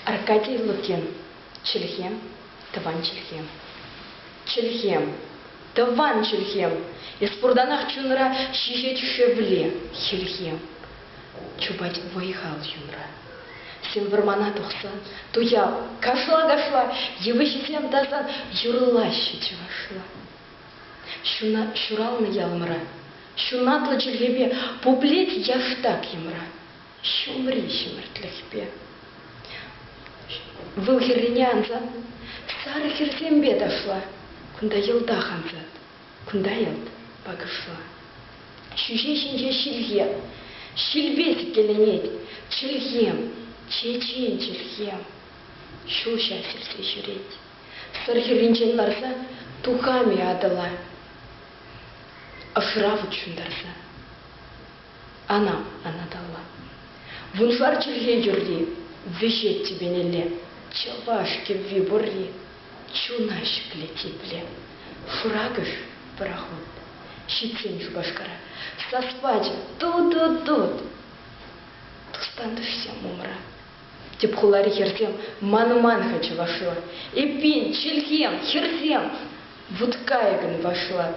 Аркадий Лукин чӗлхем, тӑван чӗлхем. Чӗлхем, тӑван чӗлхем. Эс пуртанах чунра ҫыхет хӗвле, хӗлхем. Чупать вӑй-хал чунра. Сем вӑрмана тухсан туял, кашла-кашла йывӑҫсем тасан юрлаҫҫӗ чӑвашла. Ҫуна, ҫуралнӑ ялӑмра ҫунатлӑ чӗлхепе пуплет яштак йӑмра. ҫумри ҫӗмӗртлӗхпе. Вӑл хӗррине ансан сарӑ хӗрсемпе ташла. Кунта йӑлтах ансат, кунта йӑлт пакӑшла. Ҫӳҫе ҫинче ҫилхем, ҫилпе сиккеленет. Чӗлхем, чечен чӗлхем. Ҫул ҫав хӗрсе ҫӳрет. Сӑр хӗрринчен ларса тухам-и Атӑла? Ӑсра вут ҫунтарса. Ана, Анаталла, вуншар чӗлхе юрри, вӗҫет тӳпенелле, чӑваш кӗвви пурри, чуна ҫӗклет епле. Шуракӑш, пӑрахут, ҫитсен Шупашкара, сас пачӗ ту-ту-тут! Тус-тантӑшсем умра. Тӗп хулари хӗрсем манман-ха чӑвашла. Эппин, чӗлхем, хӗрсем, вут кайӑкӑн вашлат.